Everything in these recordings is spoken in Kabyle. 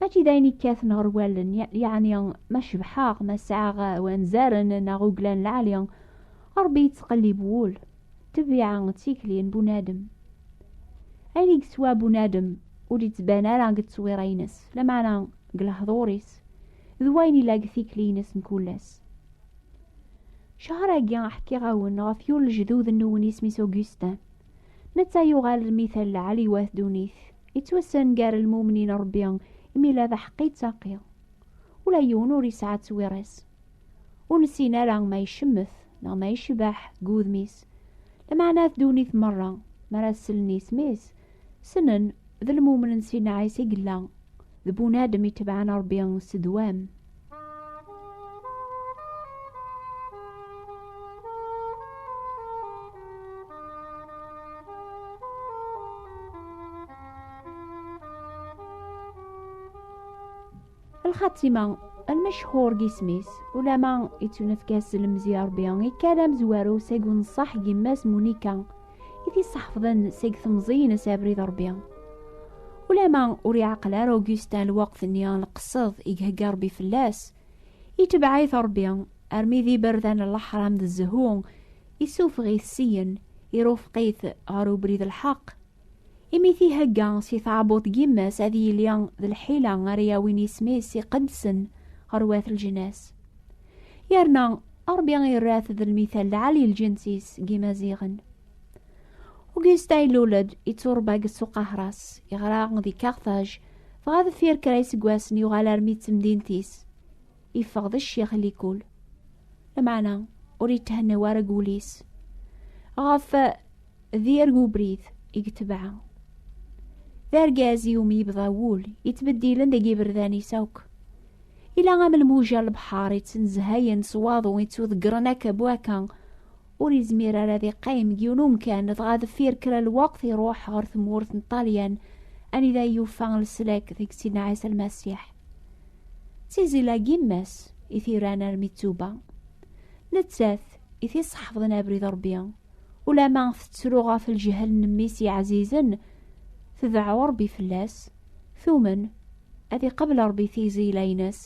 mačči d ayen ikkaten ɣer wallen yeɛni ma cebḥeɣ ma sɛaɣ wanzaren neɣ uglan lɛali rebbi yettqellib wul tebbiɛa d tikli n bunadem ayen i yeswa bunadem ur d-yettban ara deg tteswira-ines lameɛna deg lehdur-is d wayen yella deg tikli-ines mkul ass cehṛ-agi ḥkiɣ-awen ɣef yiwen lejdud-nwen isem-is Augustin netta yuɣal d mi tella ɛliwat dunit yettwassen gar lmumnin rebbi imi la d aḥeqqi ttaqi ula yiwen ur yesɛa ttwiras ur nessin ara ma icemmet neɣ ma yecbeḥ deg wudem-is lameɛna at dunit merra mi ara sellen isem-is snen d lmumnen si nneɛis i yella d bunadem itebɛen Ṛebbi s ddwam. lxatima almecḥur deg isem-is ulama ittunefk-as lemzi Ṛebbi ikad amezwaru seg unṣaḥ n yemma-s Munika i t-isseḥfḍen seg temẓiyin as abrid rebbi ulama ur iɛaqel ara Augustin lweqt-nni n lqesseḍ i ihegga rebbi fell-as itebɛit rebbi armi d iberdan n leḥram d zzhu isufeɣ-it siyen irufeq-it ɣer ubrid lḥeq imi t-ihegga si tɛebbuḍt n yemma-s ad yili d lḥila ara yawin isem-is iqedsen ɣer wat lǧnas yerna Ṛebbi irra-t d lmithal lɛali lǧins-is n yimaziɣen. Ugyusta ilul-d, ittuṛebba deg Ssuq Ahṛas, yeɣra di Kaṛtaj, dɣa deffir kra iseggasen yuɣal armi d temdint-is, yeffeɣ d ccix likul. Lameɛna ur yethenna ara deg wul-is. Ɣef d yir ubrid i yetbeɛ d argaz i umi yebḍa wul yettbeddilen deg yiberdan-is akk ila am lmuja n lebḥar yettnezhayen s waḍu yettuḍeggren akka bu akka ur yezmir ara ad iqqim deg yiwen umkan dɣa deffir kra n lweqt iruḥ ɣer tmurt n Ṭṭalyan anida yufa leslak deg Sidna Ɛisa Lmasiḥ d tizila n yemma-s i t-iran armi d tuba nettat i t-iṣeḥfḍen abrid Ṛebbi Ulama tettru ɣef lǧehel n mmi-s yeɛzizen, tedɛu Ṛebbi fell-as, tumen, ad iqabel Ṛebbi tiẓeyla-ines,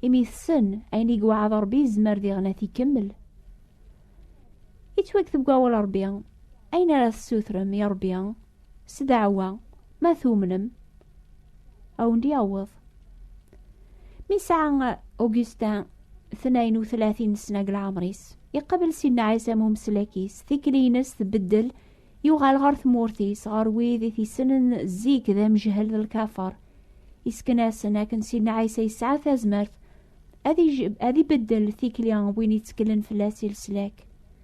imi tessen ayen i yewɛed Ṛebbi yezmer diɣen ad t-ikemmel. Yettwakteb deg wawal Ṛebbi, ayen ara tessutrem i Ṛebbi, s ddeɛwa ma tumnem a wen-d yaweḍ. Mi sɛa Augustin tnayen u tlatin sna deg leɛmer-is, iqabel Sidna Ɛisa am umeslek-is, tikli-ines tbeddel, yuɣal ɣer tmurt-is, ɣer wid i t-issenen zik d amejhel d lkafer. Isken-asen akken Sidna Ɛisa yesɛa tazmert ad ibeddel tikli n win itteklen fell-as i leslak.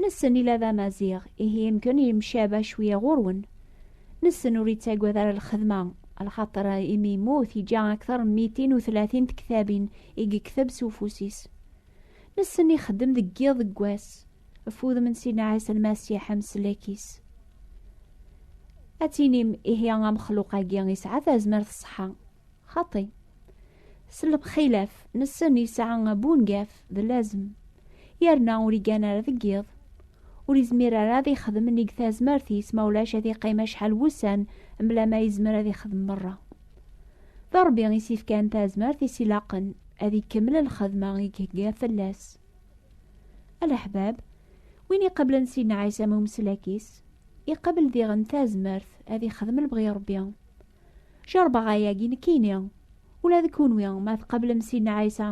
Nessen ila d amaziɣ, ihi yemken yemcaba cwiya ɣur-wen. Nessen ur yettagad ara lxedma, lxaṭer imi yemmut yeǧǧa akteṛ n mitin u tlatin tektabin i yekteb s ufus-is. Nessen ixeddem deg yiḍ deg wass, ɣef wudem n Sidna Ɛisa Lmasiḥ ameslek-is. Ad tinim ihi amexluq-agi yesɛa tazmert ṣṣeḥḥa. Xaṭi, s lxilaf nessen yesɛa abungaf d lazem, yerna ur igan ara deg yiḍ. Ur izmir ara ad ixdem nnig tazmert-is, ma ulac ad iqqim acḥal wussan mla ma izmer ad ixdem merra. D Ṛebbi i s-ifkan tazmert i s-ilaqen, ad ikemmel lxedma i ihegga fell-as. A leḥbab, win iqablen Sidna Ɛisa am umeslak-is, iqabel diɣen tazmert ad ixdem lebɣi Ṛebbi. Jeṛbeɣ ayagi nekkini, ula d kunwi ma tqablem Sidna Ɛisa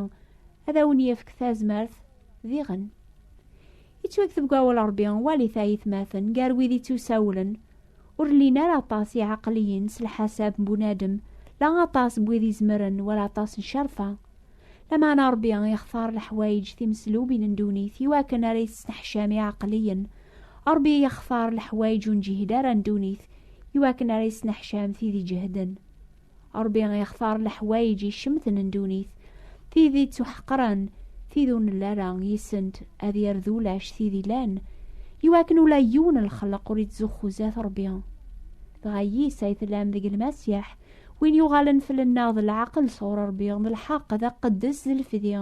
ad awen-yefk tazmert diɣen. Yettwakteb deg awal Ṛebbi, walit ayetmaten, gar wid ittusawlen, ur llin ara aṭas iɛeqliyen s lḥasab n bunadem, la aṭas n wid izemren wala aṭas n ccerfa. Lameɛna Ṛebbi ixtar leḥwayeǧ timeslubin n ddunit i wakken ara yesneḥcam iɛeqliyen. Ṛebbi ixtar leḥwayeǧ ur neǧhid ara n ddunit i wakken ara yesneḥcam tid iǧehden. Ṛebbi ixtar leḥwayeǧ icemten n ddunit, tid ittuḥeqren, tid ur nelli ara yis-sent, ad yerr d ulac tid ilan, i wakken ula yiwen n lxelq ur ittzuxxu zdat Ṛebbi. Dɣa yis ay tellam deg Lmasiḥ, Win yuɣalen fell-nneɣ d lɛaqel sɣur Ṛebbi, d lḥeqq, d aqeddes, d lefdi,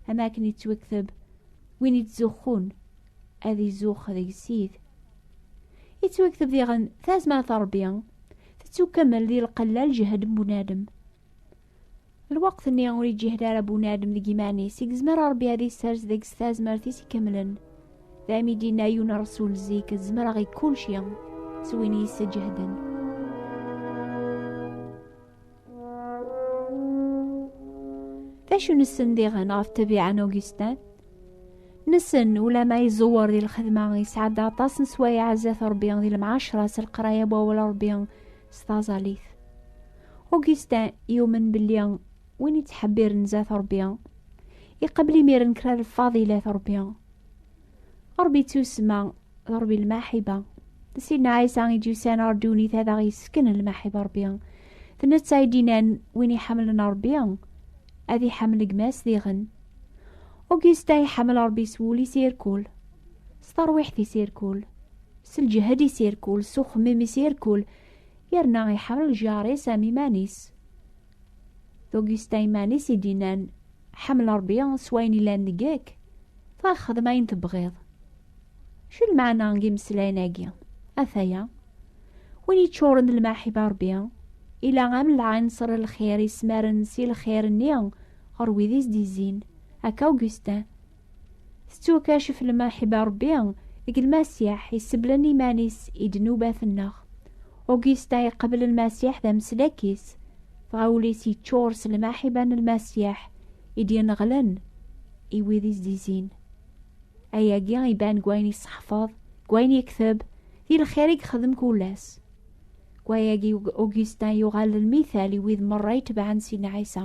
am akken yettwekteb, win yettzuxxun ad izuxx deg sid. Yettwekteb diɣen tazmert n Ṛebbi tettukemmel di lqella lǧehd n bunadem. Lweqt-nni ur iǧǧihed ara bunadem deg iman-is i yezmer Ṛebbi ad isers deg-s tazmert-is ikemlen. Daymi i d-inna yiwen ṛsul zik, zemreɣ i kulci, s win yesseǧehden. D acu nessen diɣen ɣef ṭṭbiɛa n Augustin? Nessen ulama iẓewwer di lxedma, yesɛa-d aṭas n sswayeɛ zdat Ṛebbi di lemɛaceṛa s leqraya n wawal Ṛebbi, s taẓalit. Augustin yumen belli win yettḥebbiren zat Ṛebbi iqabel imiren kra lfaḍilat Ṛebbi. Ṛebbi ttusma d Ṛebbi lmaḥiba. D Sidna Ɛisa i d-yusan ɣer ddunit ad aɣ-yessken lmaḥiba Ṛebbi. D netta i d-inan win iḥemmlen Ṛebbi ad iḥemmel gma-s diɣen. Augustin iḥemmel Ṛebbi s wul-is irkul, s terwiḥt-is irkul. s lǧehd i s-irkul s uxemmim i s-irkul yerna iḥemmel lǧar-is am iman-is tugista iman-is i d-inan ḥemmel rebbi s wayen ilan deg-ek dɣa xdem ayen tebɣiḍ cu lmeɛna n yimeslayen-agi ataya win yeččuren d lmaḥiba rebbi ila am lɛinṣer n lxir ismaren si lxir-nni ɣer wid i s-d-izzin akka Augustin Tettwakacef lmaḥiba Ṛebbi deg Lmasiḥ iseblen iman-is i ddnubat-nneɣ. Augusta iqabel Lmasiḥ d ameslak-is, dɣa ul-is yeččur s lmaḥiba n Lmasiḥ i d-yenɣelen i wid i s-d-izin. Ayagi iban deg wayen yesseḥfeḍ, deg wayen yekteb, di lxir i yexdem kul ass. Deg wayagi Augustin yuɣal d lmithal i wid merra itebɛen Sidna Ɛisa.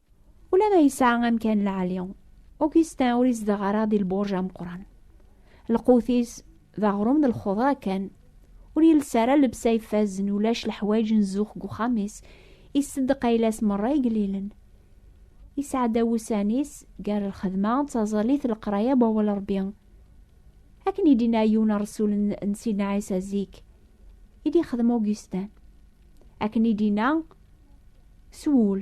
Ula ma yesɛa amkan lɛali, Augustin ur izdeɣ ara di lburj ameqqran. Lqut-is d aɣrum d lxudra kan. Ur yelsa ara llebsa ifazen, ulac leḥwayeǧ n zzux deg uxxam-is, isseddeq ayla-s merra igellilen. Yesɛedda wussan-is gar lxedma d taẓallit d leqraya n wawal Ṛebbi. Akken i d-yenna yiwen ṛṛsul n Sidna Ɛisa zik, i d-yexdem Augustin. Akken i d-yenna s wul.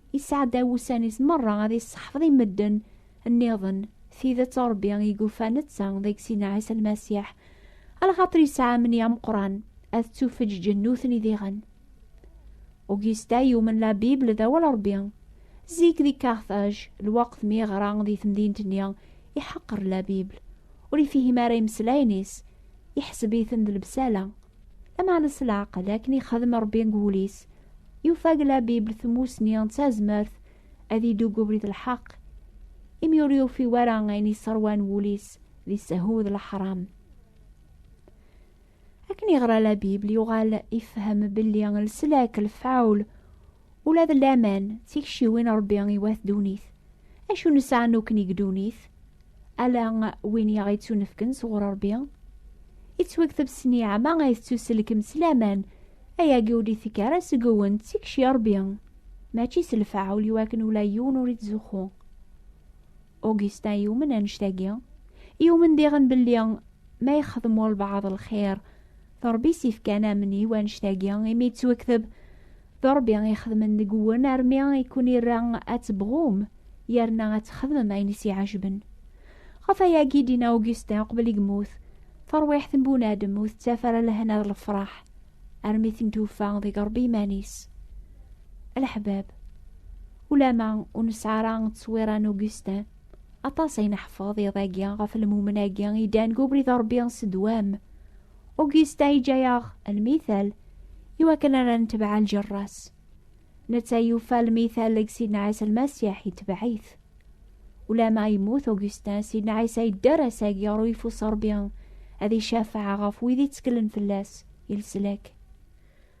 Yesɛedda wussan-is merra ad yesseḥfeḍ i medden nniḍen tidet Ṛebbi i yufa netta deg Sina Ɛisa Lmasiḥ, alxaṭer yesɛa amni ameqqran ad ttufeǧǧen nutni diɣen. Augusta yumen la Bible d awal Ṛebbi. Zik di Carthage, lweqt mi yeɣra di temdint-nni, iḥeqqer la Bible. Ur ifihim ara imeslayen-is, iḥseb-iten d lebsala. Lameɛna s leɛqel akken ixdem Ṛebbi deg wul-is, yufa deg la Bibel tmusni d tazmert ad yeddu deg ubrid n lḥeqq, imi ur yufi wara ayen yesseṛwan wul-is di ssehu d leḥṛam. Akken yeɣra la Bibel, yuɣal ifhem belli leslak, lefɛul, Ula d laman d tikciwin Ṛebbi i wat ddunit. Acu nesɛa nukken i ddunit? Ala win i aɣ-ittunefken sɣur Ṛebbi. Ittwekteb s nniɛma ay tettuselkem s laman, ayagi ur d-itekk ara seg-wen d tikci Ṛebbi, mačči s lfeɛl iwakken ula yiwen ur ittzuxxu. Augustin yumen annect-agi, yumen diɣen belli ma yexdem walbaɛḍ lxir, d Ṛebbi i s-ifkan amni u annect-agi imi yettwekteb d Ṛebbi i xedmen deg-wen armi i kun-irra ad tebɣum yerna ad txedmem ayen i s-iɛejben. Ɣef ayagi i d-yenna Augustin uqbel i yemmut, tarwiḥt n bunadem ur tettaf ara lehna d lefraḥ armi ten-tufa deg Ṛebbi iman-is. Leḥbab. Ulama ur nesɛi ara ttṣwira n Augustin, aṭas ay neḥfeḍ iḍ-agi ɣef lmumen-agi i ddan deg ubrid n Rebbi s ddwam. Augustin yeǧǧa-aɣ lmithal i wakken ara netbeɛ ljerra-s. Netta yufa lmithal deg Sidna Ɛisa Lmasiḥ yetbeɛ-it. Ulama yemmut Augustin, Sidna Ɛisa yedder ass-agi ɣer uyeffus n Rebbi ad icafeɛ ɣef wid yettkellen fell-as i leslak.